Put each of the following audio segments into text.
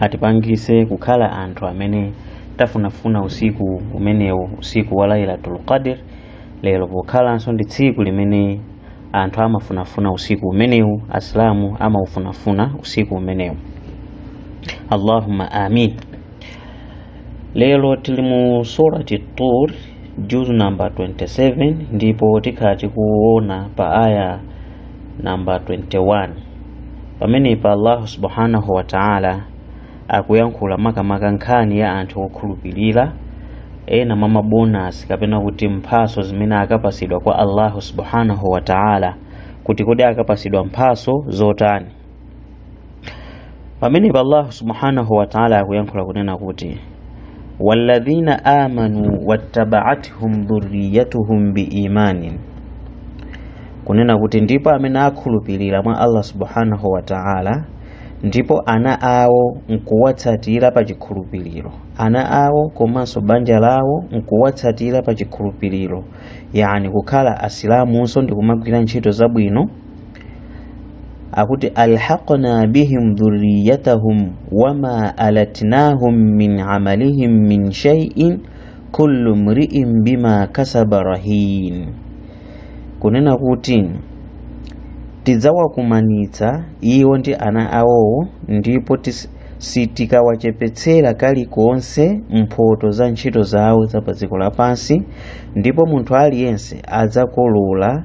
atipangise kukhala anthu amene tafunafuna usiku umenewu usiku wa lailatul qadr lero pokhalanso ndi tsiku limene anthu amafunafuna usiku umenewu asilamu amaufunafuna usiku umenewu allahumma amin lero tili mu surati tur juzu namba 27 ndipo tikhala tikuona pa aya namba 21 pamenepa allahu subhanahu wa ta'ala akuyankhula makamaka nkhani ya anthu okhulupirira ena mwa mabonasi kapena kuti mphaso zimene akapasidwa kwa allahu subhanahu wa ta'ala kuti kodi akapasidwa mphaso zotani pamenepa allahu subhanahu wataala akuyankhula kunena kuti walladhina amanu wattabaathum dhurriyatuhum biimanin kunena kuti ndipo amene akhulupirira mwa allah subhanahu wataala ndipo ana awo nkuwatsatira pa chikhulupiriro ana awo komanso banja lawo nkuwatsatira pa chikhulupiriro yani kukhala asilamunso ndikumagwira ntchito zabwino akuti alhaqna bihim dhurriyatahum wama alatnahum min amalihim min shay'in kullu mri'in bima kasaba rahin kunena kuti tidzawakumanitsa iwo ndi ana awowo ndipo tis- sitikawachepetsera kalikonse mphoto za ntchito zawo za pa dziko lapansi ndipo munthu aliyense adzakolola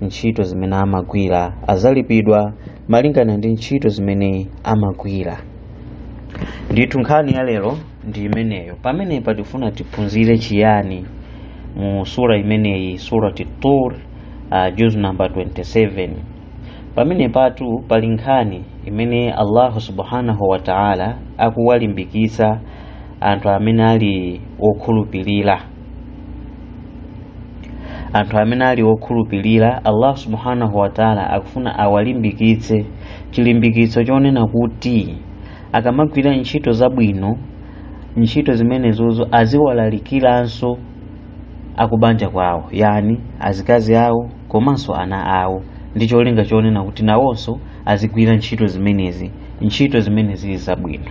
ntchito zimene amagwira azalipidwa malingana ndi ntchito zimene amagwira ndithu nkhani ya lero ndi imeneyo pamenepa tifuna tiphunzire chiyani mu sura imeneyi surati tur uh, juz number 27 pamenepatu pali nkhani imene allahu subhanahu wa taala akuwalimbikitsa anthu amene ali okhulupirira anthu amene ali okhulupirira allah subhanahu wataala akufuna awalimbikitse chilimbikitso chonena kuti akamagwira ntchito zabwino ntchito zimenezozo aziwalalikiranso akubanja kwawo yani azikazi awo komanso ana awo ndi cholinga chonena kuti nawonso azigwira ntchito zimenezi ntchito zimene zili zabwino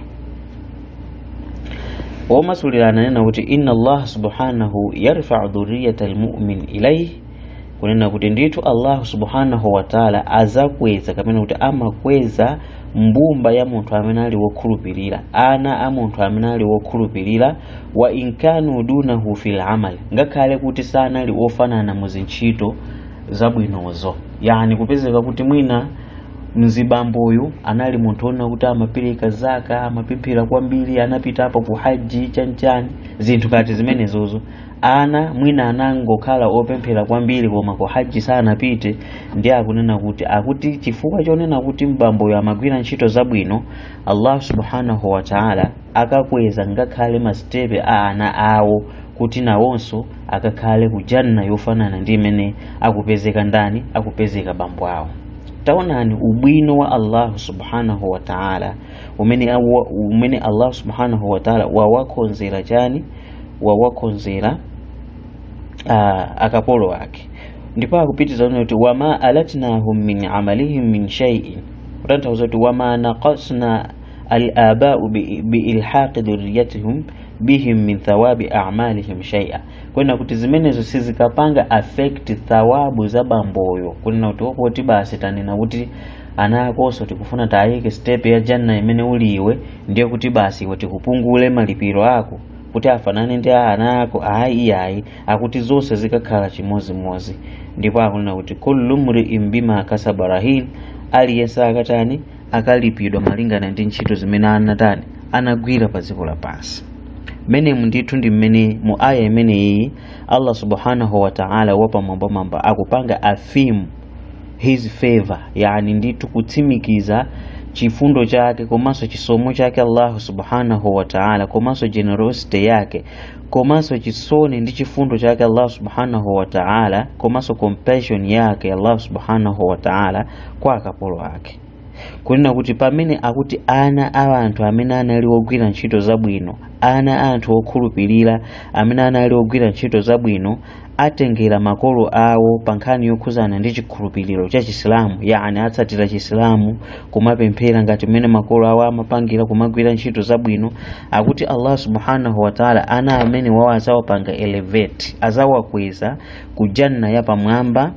womasulira ananena kuti inna allah subhanahu yarfau dhuriyata almumin ilaih kunena kuti ndithu allahu subhanahu wataala azakweza kapena kuti amakweza mbumba ya munthu amene ali wokhulupirira ana a munthu amene ali wokhulupirira wa inkanu dunahu fil amal ngakhale kuti sanali ofanana mu zintchito zabwinozo yani kupezeka kuti mwina mzibamboyu anali munthu onena kuti amapereka zaka amapemphera kwambiri anapitapo ku haji chanchani zinthu ngati zimenezozo ana mwina anangokhala opemphera kwambiri koma ku haji sanapite ndiye akunena kuti akuti chifukwa chonena kuti mbamboyo amagwira ntchito zabwino allah subhanahu wataala akakweza ngakhale masitepe a ana awo kuti nawonso akakhale ku janna yofanana ndi imene akupezeka ndani akupezeka bambo awo taonani ubwino wa allahu subhanahu wa taala umene allahu subhanahu wa taala wawakonzera chani wawakonzera ah, akapolo ake ndipo akupitiriza kunena kuti wama alatnahum min amalihim min shaiin kutanthauza kuti wama naqasna alabau biilhaqi dhurriyatihum bihim min thawabi a'malihim shay'a kunena kuti zimenezo sizikapanga affect thawabu za bamboyo kunena kuti opoti basi tanena kuti ana akonso tikufuna tayike step ya janna imene uli iwe ndiye kuti basi iwe tikupungule malipiro ako kuti afanane ndi a ana ako ayi ayi akuti zonse zikakhala chimodzimodzi ndipo akunena kuti kullu mri'in bima kasaba rahin aliyense akatani akalipidwa malingana ndi ntchito zimene anatani anagwira pa dziko lapansi mmene ndithu ndi mmene mu aya imeneyi allah subhanahu wa taala wapamwambamwamba akupanga affirm his favor yani ndithu kutsimikiza chifundo chake komanso chisomo chake allahu subhanahu wa taala komanso generosity yake komanso chisoni ndi chifundo chake allahu subhanahu wa taala komanso compassion yake allahu subhanahu wa taala kwa akapolo ake kunena kuti pamene akuti ana a anthu amene anali ogwira ntchito zabwino ana a anthu okhulupirira amene anali ogwira ntchito zabwino atengera makolo awo pa nkhani yokhuzana ndi chikhulupiriro cha chisilamu yani atsatira chisilamu kumapemphera ngati mmene makolo awo amapangira kumagwira ntchito zabwino akuti allah subhanahu wataala ana amenewawo azawapanga elevate azawakweza ku janna yapamwamba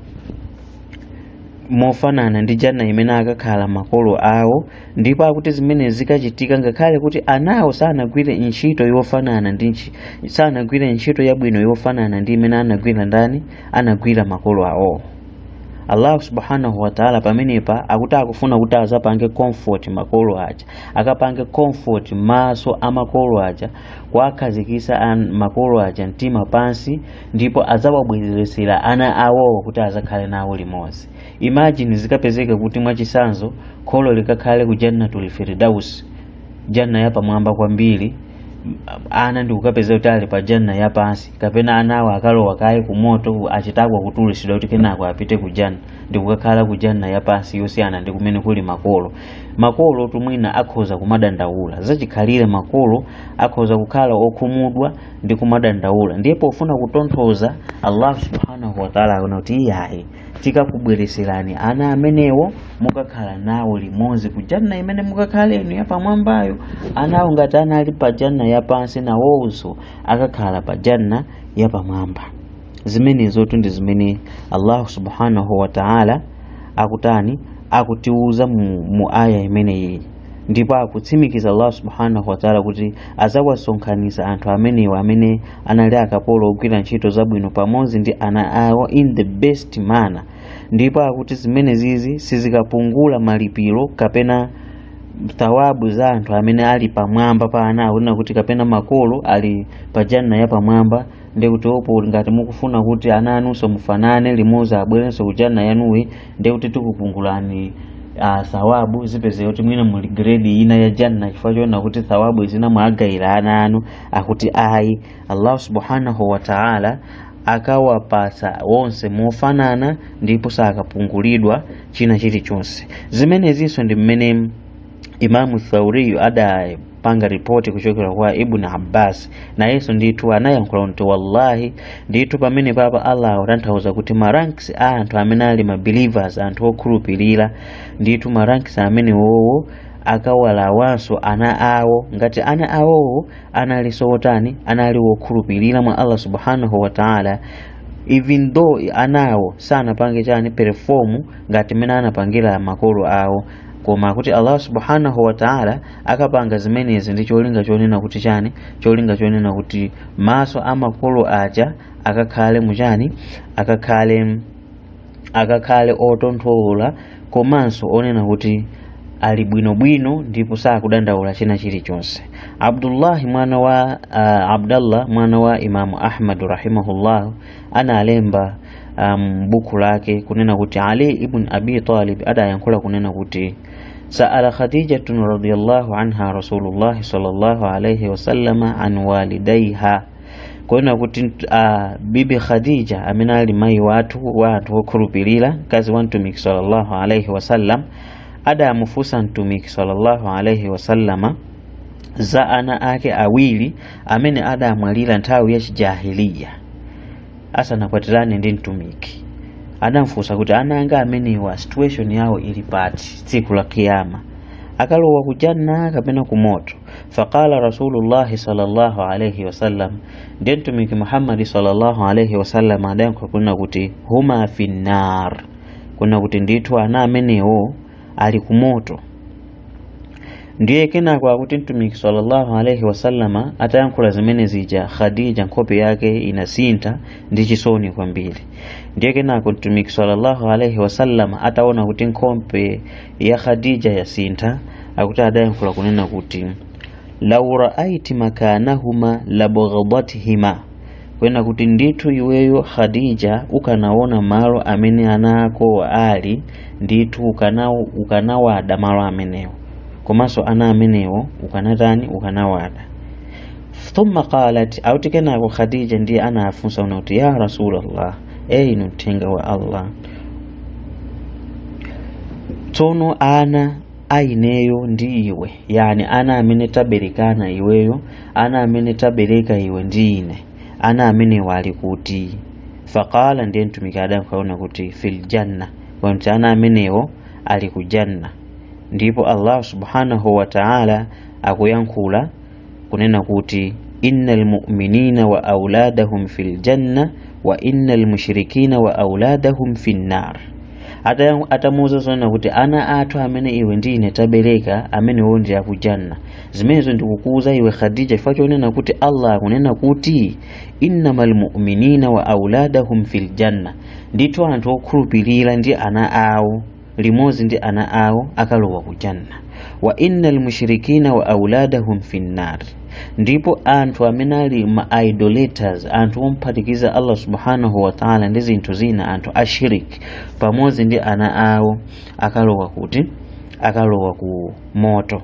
mofanana ndi janna imene akakhala makolo awo ndipo akuti zimene zikachitika ngakhale kuti anawo sanagwire ntchito yofanana ndi ntchi- sanagwire ntchito yabwino yofanana ndi imene anagwira ndani anagwira makolo awo allah subhanahu wataala pamenepa akuti akufuna kuti azapange comfort makolo aja akapange comfort maso a makolo aja kuwakhazikisa makolo aja mtima pansi ndipo adzawabweretsera ana awowo kuti azakhale nawo limodzi imagine zikapezeka kuti mwachisanzo kholo likakhale ku jannatul firdaus janna yapamwamba kwambiri m- ana ndikukapezeka kuti ali pa janna yapansi kapena anawo akalowa kaye ku moto achitako kutulutsidwa kuti kenako apite ku janna ndikukakhala ku janna yapansi yosiyana ndi kumene kuli makolo makolo timwina akhoza kumadandaula zachikhalire makolo akhoza kukhala okhumudwa ndi kumadandaula ndiye pofuna kutonthoza allah subhanahu wataala akunena kuti iyayi tikakubwereserani ana amenewo mukakhala nawo limodzi ku janna imene mukakhala inu yapamwambayo anawo ngati anali pa janna yapansi nawonso akakhala pa janna yapamwamba zimenezotu ndi zimene allahu subhanahu wataala akutani akutiuza mu, mu aya imeneyi ndipo akutsimikiza allah subhanahu wataala kuti adzawasonkhanitsa anthu amenewa amene anali akapolo ogwira ntchito zabwino pamodzi ndi ana awo in the best manner ndipo akuti zimenezizi sizikapungula malipiro kapena thawabu za anthu amene ali pamwamba pa ana awo kunena kuti kapena makolo ali pa janna ya pamwamba ndi kuti opo ngati mukufuna kuti ana anunso mufanane limodzi abwerenso ku janna yanuyi ndiye kuti tikupungulani uh, thawabu zipezeke kuti mwina muli grade ina ya janna chifukwa choona kuti thawabu zina mwagayira ana anu akuti ayi allah subhanahu wa taala akawapasa wonse mofanana ndipo sakapungulidwa china chilichonse zimenezinso ndi mmene Imamu Thauriyu adapanga ripoti kuchokera kwa Ibn Abbas nayenso ndithu anayankhula kuti wallahi ndithu pamenepapa Allah akutanthauza kuti maranks a anthu amene ali mabelievers anthu okhulupirira ndithu maranks amenewowo akalawanso ana awo ngati ana awowo analinso otani anali wokhulupirira mwa Allah subhanahu wa ta'ala even though anawo sanapange chani perform ngati mmene anapangira makolo awo koma kuti allah subhanahu wataala akapanga zimenezi ndi cholinga chonena kuti chani cholinga chonena kuti maso a makolo aja akakhale muchani akakhale akakhale otonthola komanso onena kuti ali bwinobwino ndipo sakudandaula china chilichonse abdullahi mwana wa uh, abdallah mwana wa imamu ahmadu rahimahullahu analemba m'buku lake kunena kuti ali ibn abi talib adayankhula kunena kuti saala khadijatun radiyallahu anha rasulullahi sallallahu alaihi wasallama an walidaiha kunena kuti uh, bibi khadija amene ali mayi wathu wa anthu okhulupirira mkazi wa mtumiki sallallahu alaihi wasallam adamufunsa mtumiki sallallahu alaihi wasallama za ana ake awiri amene adamwalira nthawi ya chijahiliya asanakwatirane ndi mtumiki adamfunsa kuti ana anga amenewa situation yawo ili pati tsiku la kiyama akalowa kujanna kapena kumoto faqala rasulullahi sallallahu alaihi wasallam ndiye mtumiki muhammadi sallallahu alaihi wasallam adayankha kunena kuti huma finnar kunena kuti ndithu ana amenewo ali ku moto ndiye kenako akuti mtumiki sallallahu alaihi wasallama atayankhula zimene zija khadija nkhope yake inasintha ndi chisoni kwambiri ndiye kenako mtumiki sallallahu alaihi wasallama ataona kuti nkhope ya khadija yasintha akuti adayankhula kunena kuti lau raaiti makanahuma labaghadatihima kwena kuti ndithu iweyo khadija ukanaona malo amene ana ako ali ndithu ukanawada malo amenewo komanso ana amenewo ukanatani ukanawada thumma qalat auti kenako khadija ndiye anafunsa una kuti ya rasulallah inu mthenga wa allah tsono ana a ineyo ndi iwe yani ana amene taberekana iweyo ana amene tabereka iwe ndi ine ana amenewa ali kuti faqala ndiye mtumiki adayankha una kuti fil janna kuti ana amenewo ali ku janna ndipo allah subhanahu wa taala akuyankhula kunena kuti innal mu'minina wa auladahum fil janna wa innal mushrikina wa auladahum fin nar atamuuza zonena kuti ana athu amene iwe ndi ine tabereka amenewo ndi akujanna zimenezo ndikukuuza iwe khadija chifukwa chonena kuti allah akunena kuti innamal mu'minina wa auladahum fil janna ndithu anthu okhulupirira ndi ana awo limodzi ndi ana awo akalowa ku janna wa inna almushrikina wa auladahum fi nnar ndipo anthu amene ali ma idolaters anthu omphatikiza allah subhanahu wa taala ndi zinthu zina anthu ashirik pamodzi ndi ana awo akalowa kuti akalowa ku moto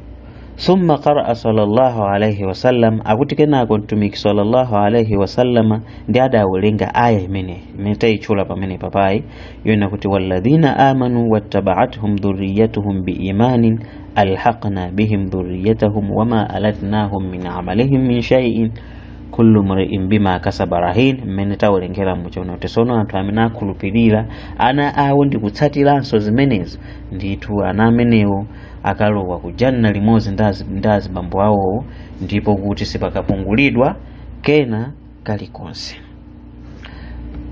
summa qaraa sallallahu alaihi wasallam akuti kenako mtumiki sallallahu alaihi wasallama ndi adawerenga aya imene imene tayitchula pamene paapayi yona kuti walladhina amanu wattaba'athum dhurriyyatuhum biimanin alhaqna bihim dhurriyyatahum wama alatnahum min amalihim min shay'in kullu mri'in bima kasaba rahin mmene tawerengera muja una kuti sono anthu amene akhulupirira ana awo ndi kutsatiranso zimenezo ndithu ana amenewo akalowa kujanna limodzi ndi azibambo awowo ndipo kuti sipakapungulidwa kena kalikonse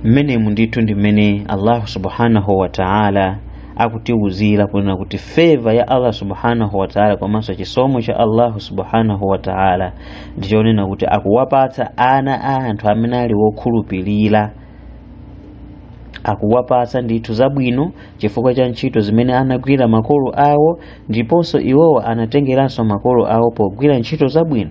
mmenemu ndithu ndi mmene allahu subhanahu wa taala akutiwuzira kunena kuti favor ya allah subhanahu wa taala komanso chisomo cha allahu subhanahu wa taala ndichonena kuti akuwapatsa ana a anthu amene ali wokhulupirira akuwapatsa ndithu zabwino chifukwa cha ntchito zimene anagwira makolo awo ndiponso iwowo anatengeranso makolo awo pogwira ntchito zabwino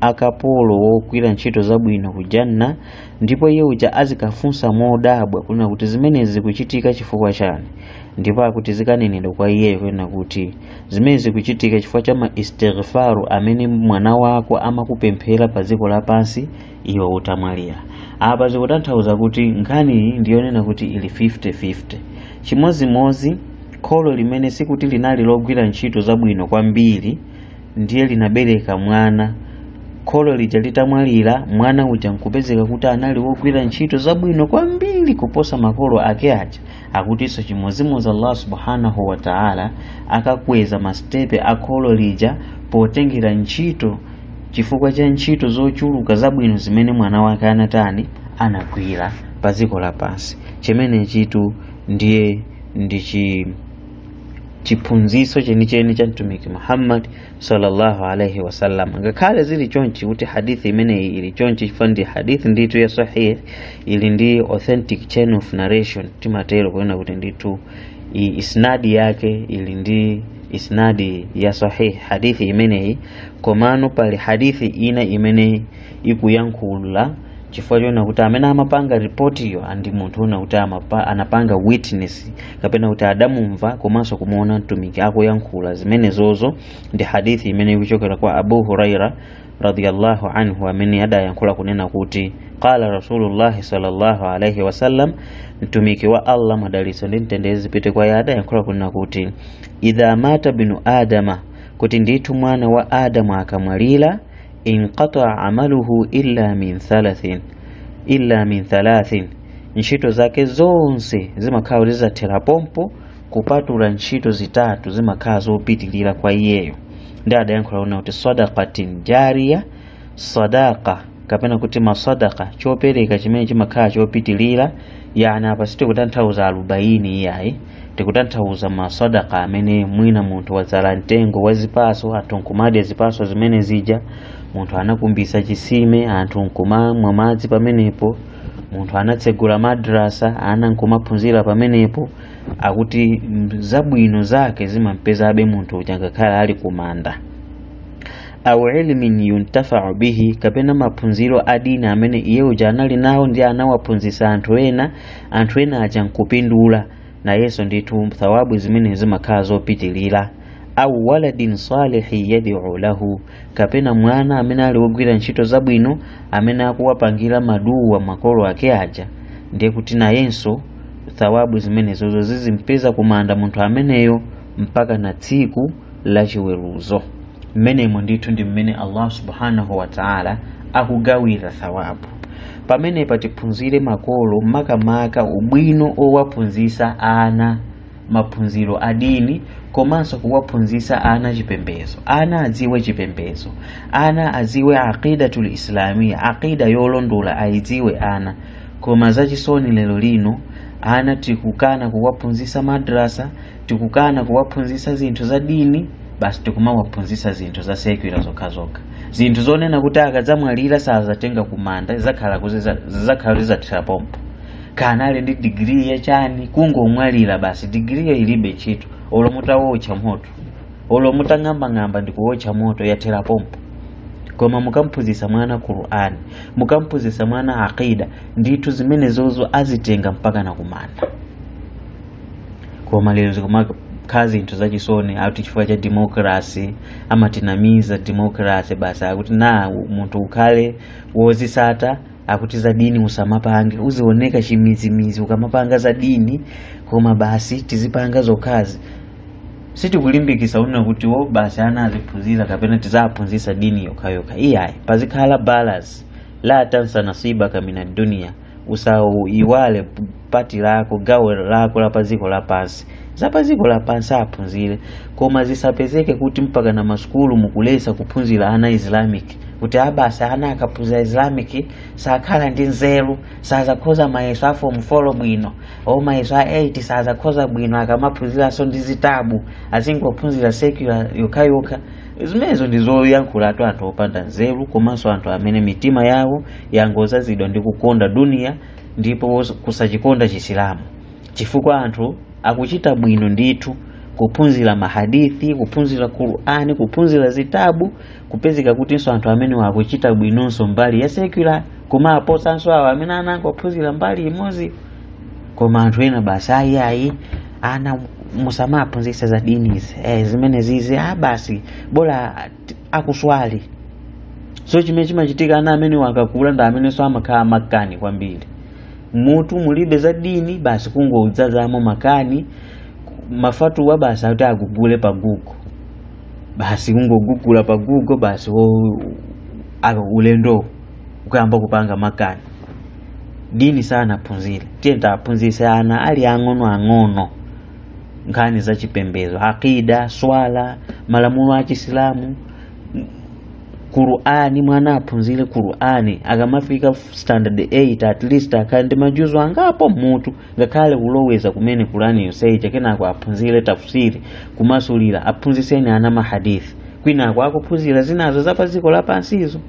akapolo wogwira ntchito zabwino ku janna ndipo iye uja azikafunsa modabwa kunena kuti zimenezi zikuchitika chifukwa chani ndipo akuti zikanenedwa kwa iyeyo kunena kuti zimenezi zikuchitika chifukwa cha ma istighfaru amene mwana wako amakupemphera pa dziko lapansi iwe utamwalira apa zikutanthauza kuti nkhani ndiyonena kuti ili 50-50 chimozimozi kholo limene sikuti linali logwira ntchito zabwino kwambiri ndiye linabereka mwana kholo lija litamwalira mwana uja nkupezeka kuti anali wogwira ntchito zabwino kwambiri kuposa makolo ake aja akutinso chimozimozi allah subhanahu wa taala akakweza masitepe a kholo lija potengera ntchito chifukwa cha ntchito zochuluka zabwino zimene mwana wake anatani anagwira pa dziko lapansi chimenechitu ndiye ndi chi chiphunziso chenicheni cha mtumiki muhammad sallallahu alaihi wasallam ngakhale zili chonchi kuti hadithi imeneyi ili chonchi chifukwa ndi hadithi ndithu ya sahih ili ndi authentic chain of narration timatero kunena kuti ndithu isnadi yake ili ndi isnadi ya sahih hadithi imeneyi komano pali hadithi ina imene ikuyankhula chifukwa chonena kuti amene amapanga ripotiyo ndi munthu onena kuti anapanga witness kapena kuti adamumva komanso kumuona mtumiki akuyankhula zimenezozo ndi hadithi imene ikuchokera kwa abu huraira radiyallahu anhu amene adayankhula kunena kuti qala rasulullahi sallallahu alaihi wasallam mtumiki wa allah madalitso ndi mtendere zipite kwa iye adayankhula kunena kuti idha mata binu adama kuti ndithu mwana wa adamu akamwalira inqataa amaluhu illa min thalathin ntchito zake zonse zimakhala kuti zathera pompo kupatula ntchito zitatu zimakhala zopitilira kwa iyeyo ndiye adayankhula kunena kuti sadaqatin jariya sadaqa kapena kuti masadaka chopereka chimene chimakhala chopitilira yani apa sitikutanthauza arubaini iyayi tikutanthauza masadaqa amene mwina munthu wadzala mtengo wa zipaso anthu nkumadya zipaso zimene zija munthu anakumbisa chisime anthu nkumamwa madzi pamenepo munthu anatsegula madrasa ana nkumaphunzira pamenepo akuti mm, zabwino zake zimampezabe munthu uja ngakhale ali kumanda au ilmin yuntafau bihi kapena maphunziro adini amene iye uja anali nawo ndi anawaphunzisa anthu ena anthu ena aja nkupindula nayenso ndithu thawabu zimene zimakhala zopitilira au waladin salihi yad'u lahu kapena mwana amene ali wogwira ntchito zabwino amene akuwapangira maduwa makolo ake aja ndiye kuti nayenso thawabu zimenezozo zizimpeza kumanda munthu ameneyo mpaka na tsiku la chiweruzo mmenemo ndithu ndi mmene allah subhanahu wataala akugawira thawabu pamenepa tiphunzire makolo makamaka ubwino owaphunzisa ana maphunziro a dini komanso kuwaphunzisa ana chipembezo ana adziwe chipembezo ana adziwe aqidatul islamia aqida yolondola ayidziwe ana koma zachisoni lero lino ana tikukana kuwaphunzisa madrasa tikukana kuwaphunzisa zinthu za dini basi tikumawaphunzisa zinthu za secular zokhazokha zinthu zonena kuti akadzamwalira sazatenga kumanda zakhala zizathera pompo kana ali ndi digiri yachani kungomwalira basi digiriyo ilibe ntchito olo mutawotcha moto olo mutang'ambang'amba ndi kuwotcha moto yathera pompo koma mukamphunzisa mwana qur'an mukamphunzisa mwana aqida ndithu zimenezozo azitenga mpaka na kumanda koma lero zikumakhala zinthu zachisoni akuti chifukwa cha democracy amatinamiza democracy basi akuti na munthu ukhale wozisata akuti za dini usamapange uzioneka chimizimizi ukamapanga za dini koma basi tizipanga zokhazi sitikulimbikisa kunena kuti o basi ana aziphunzira kapena tiziwaphunzisa dini yokhayokha iyayi pazikhala balance la tansa nasibaka mina dunia usaiwale pati lako gawo lako la pa dziko lapansi za pa dziko lapansi aphunzire koma zisapezeke kuti mpaka na masukulu mukulesa kuphunzira ana islamic kuti a basi ana akaphunzira islamic sakhala ndi nzeru sazakhoza mayeso a form 4 bwino o mayeso a 8 sazakhoza bwino akamaphunziranso ndi zitabu azingophunzira secular yokhayokha zimenezo ndi zoyankhulatu anthu opanda nzeru komanso anthu amene mitima yawo yangozazidwa ndi kukonda duniya ndipo kusachikonda chisilamu chifukwa anthu akuchita bwino ndithu kuphunzira mahadithi kuphunzira qur'ani kuphunzira zitabu kupezeka kutinso anthu amene akuchita bwinonso mbali ya secular koma aposanso awo amene anangophunzira mbali imodzi koma anthu ena basi ayi ayi ana musamaphunzisa za dini izi eh, zimene zizi ah, basi bola akuswali so chimene chimachitika ana amenewo akakula ndi amenenso amakhala makani kwambiri m'mutu mulibe za dini basi kungodzazamo makani mafatuwa basi akuti agugule pa google basi kungogugula pa google basi wo- aka ulendo ukuyamba kupanga makani dini sanaphunzire tiyeni tiaphunzise ana ali ang'ono ang'ono nkhani za chipembedzo aqida swala malamulo a chisilamu qur'ani mwana aphunzire qur'ani akamafika standard 8 at least akhale ndi majuzo angapo m'mutu ngakhale kuloweza kumene qur'ani yonse ija kenako aphunzire tafsiri kumasulira aphunziseni ana mahadithi kwinako akuphunzira zinazo za pa dziko lapansizo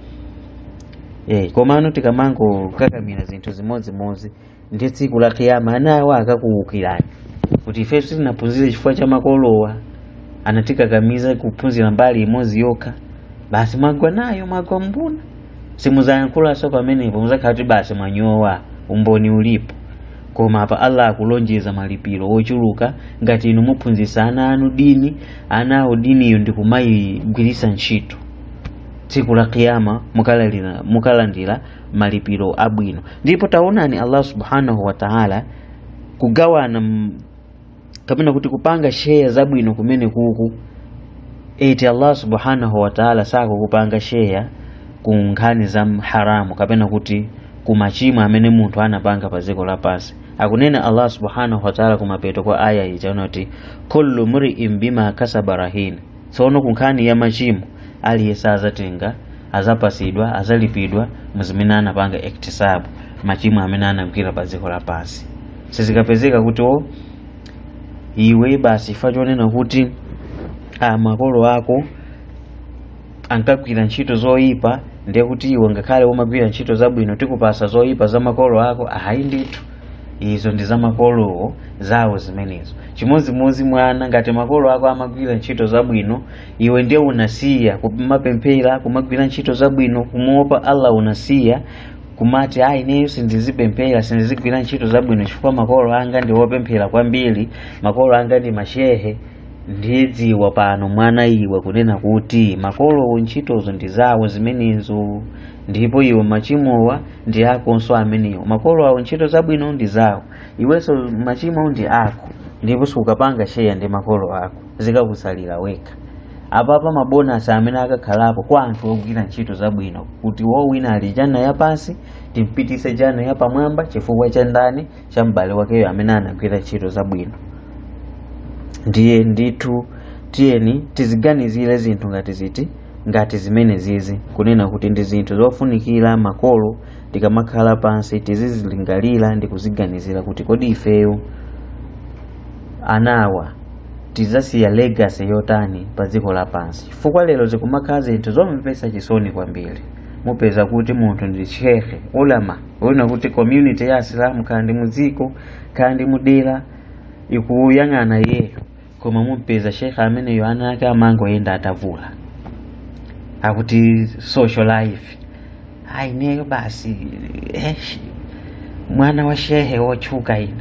Eh, komano tikamangokakamira zinthu zimodzimodzi ndiye tsiku la kiyama anawa akakuukirani kuti ife sitinaphunzire chifukwa cha makolowa anatikakamiza kuphunzira mbali imodzi yokha basi mwagwa nayo mwagwa mbuna simuzayankhulanso pamenepo muzakhala kuti basi mwanyowa umboni ulipo koma apa allah akulonjeza malipiro ochuluka ngati inu muphunzisa ana anu dini anawo diniyo ndi kumayigwirisa ntchito tsiku la kiyama mukalalira- mukalandira malipiro abwino ndipo taonani allah subhanahu wa taala kugawana m- kapena kuti kupanga sheya zabwino kumene kuku eti allah subhanahu wa taala sakukupanga sheya ku nkhani za haramu kapena kuti ku machimo amene munthu anapanga pa dziko lapansi akunena allah subhanahu wa taala kumapeto kwa aya iyi chonena kuti kullu mriin bima kasaba rahin tsono ku nkhani ya machimo aliyense azatenga azapasidwa azalipidwa muzimene anapanga iktisabu machimo amene anagwira pa dziko lapansi sizikapezeka kuti o iwe basi chifukwa chonena kuti makolo ako ankagwira ntchito zoyipa ndiye kuti iwe ngakhale umagwira ntchito zabwino tikupasa zoyipa za makolo ako ayi ndithu izo ndi za makolowo zawo zimenezo chimodzimodzi mwana ngati makolo ako amagwira ntchito zabwino iwe ndiye unasiya kumapemphera kumagwira ntchito zabwino kumuopa allah unasiya kumati ayi ineyo sindizipemphera sindizigwira ntchito zabwino chifukwa makolo anga ndi wopemphera kwambiri makolo anga ndi mashehe ndiye dziwa pano mwana iwe kunena kuti makolowo ntchitozo ndi zawo zimenezo ndipo iwe machimowa ndi akonso amenewo makolo awo ntchito zabwino ndi zawo iwenso machimo ndi ako ndipo sukapanga sheya ndi makolo ako zikakusalira wekha apapa mabonasi amene akakhalapo kwa anthu ogwira ntchito zabwino kuti wina ali jana yapansi timpitise jana yapamwamba chifukwa cha ndani cha m'bale wakeyo amene anagwira ntchito zabwino ndiye ndithu tiyeni tiziganizire zinthu ngati ziti ngati zimenezizi kunena kuti ndi zinthu zofunikira makolo tikamakhala pansi tizizilingalira ndi kuziganizira kuti kodi ifeyo anawa tidzasiya legacy yotani pa dziko lapansi chifukwa lero zikumakhala zinthu zomvetsa chisoni kwambiri mupeza kuti munthu ndi shehe ulama wina kuti community ya asilamu khala ndi mudziko khala ndi mudera ikuyang'ana iyeyo koma mumpeza shehe ameneyo ana ake amangoyenda atavula akuti social life a ineyo basi eh, sh- mwana wa shehe wotchuka ine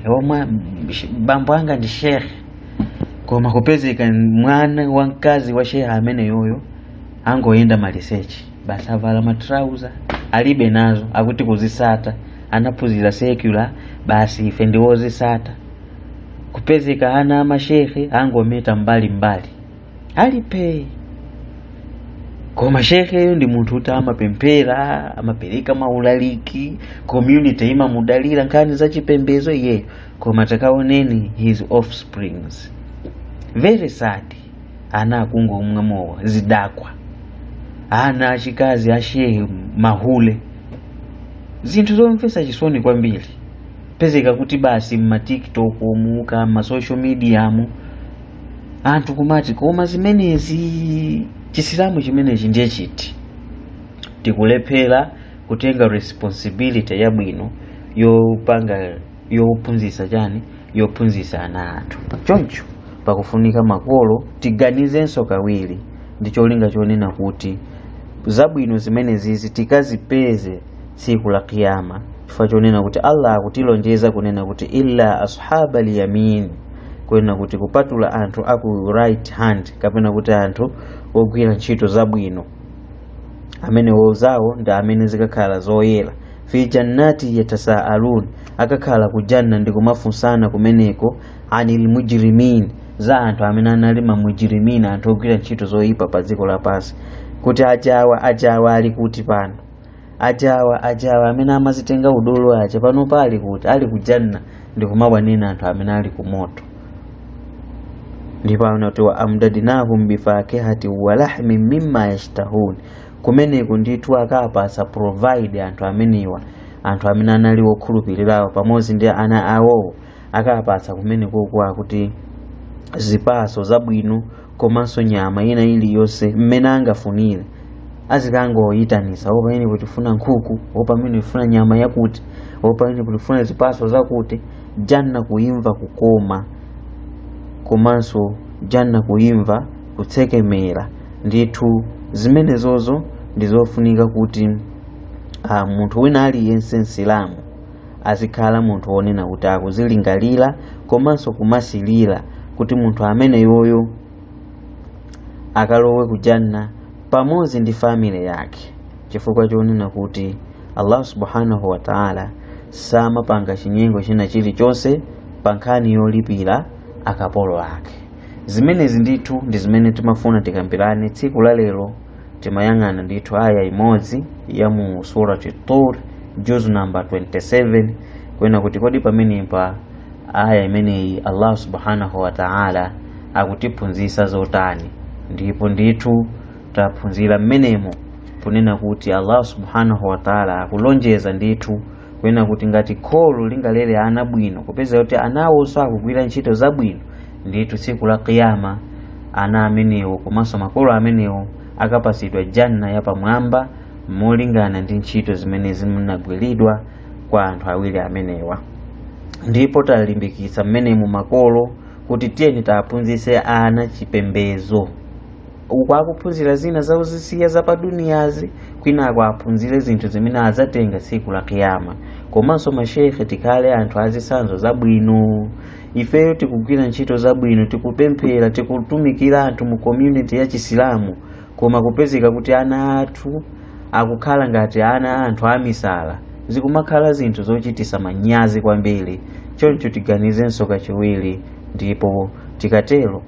bambo anga ndi shehe koma kupezeka mwana wamkazi wa shehe ameneyoyo angoyenda maliseche basi avala matrauza alibe nazo akuti kuzisata anaphunzira secular basi ife ndiwozisata kupezeka ana amashehe angometa mbali mbali ali pee koma sheheyo ndi munthu kuti amapemphera amapereka maulaliki community imamudalira nkhani za chipembedzo iyeyo koma takaoneni his offsprings very sad ana akungomwa mowa zidakwa ana achikazi ashehe mahule zinthu zomvetsa chisoni kwambiri pezeka kuti basi m'matiktok muka m'masocial media mu anthu kumati koma zimenezi chisilamu chimenechi ndiye chiti tikulephera kutenga responsibility yabwino yopanga yophunzitsa chani yophunzitsa ana athu choncho pakufunika makolo tiganizenso kawiri ndi cholinga chonena kuti zabwino zimenezizi tikazipeze tsiku la kiyama chifukwa chonena kuti allah akutilonjeza kunena kuti illa ashaba lyamin kunena kuti kupatula anthu aku right hand kapena kuti anthu ogwira ntchito zabwino amenewo zawo ndi amene zikakhala zoyera fi jannati yatasaalun akakhala ku janna ndi kumafunsana kumeneko anil mujrimin za anthu amene anali mamujrimin anthu ogwira ntchito zoyipa pa dziko lapansi kuti ajawa ajawa ali kuti pano ajawa ajawa amene amazitenga udolo aja pano paali kuti ali kujanna ndikumawanena anthu amene ali ku moto ndipo anati wa amdadinahum bifakihati wa lahmin mimma yashtahun kumeneko ndithu akawapasa provide anthu amenewa anthu amene anali wokhulupirirawo pamodzi ndi ana awowo akapatsa kumenekoko akuti zipaso zabwino komanso nyama ina iliyonse mmene angafunire azikangoyitanisa o pa inepo tifuna nkhuku o pamene tifuna nyama yakuti o pa inepo tifuna zipaso zakuti janna kuimva kukoma komanso janna kuimva kutsekemera ndithu zimenezozo ndizofunika kuti ah, munthu wina aliyense msilamu azikhala munthu wonena kuti akuzilingalira komanso kumasilira kuti munthu ameneyoyo akalowe ku janna pamodzi ndi family yake chifukwa chonena kuti allah subhanahu wa taala samapanga chinyengo china chilichonse pa nkhani yolipira akapolo ake zimenezi ndithu ndi zimene timafuna tikambirane tsiku la lero timayang'ana ndithu aya imodzi ya mu surati tur juz namba 27 kunena kuti kodi pamenepa aya imeneyi allah subhanahu wa taala akutiphunzitsa zotani ndipo ndithu taphunzira mmenemo kunena kuti allah subhanahu wa taala akulonjeza ndithu kunena kuti ngati kholo lingalere ana bwino kupeza kuti anawonso akugwira ntchito zabwino ndithu tsiku la kiyama ana amenewo komanso makolo amenewo akapatsidwa janna yapamwamba molingana ndi ntchito zimene zinagwiridwa kwa anthu awiri amenewa ndipo talimbikitsa mmenemu makolo kuti tiyeni tiwaphunzitse ana chipembedzo uku akuphunzira zina za uzisiya za pa duniyazi kwinako aphunzire zinthu zimene adzatenga tsiku la kiyama komanso mashekhe tikhale anthu azisanzo zabwino ifeyo tikugwira ntchito zabwino tikupemphera tikutumikira anthu mu community ya chisilamu koma kupezeka kuti ana athu akukhala ngati ana a anthu amisala zikumakhala zinthu zochitisa manyazi kwambiri choncho tiganizenso kachiwiri ndipo tikatero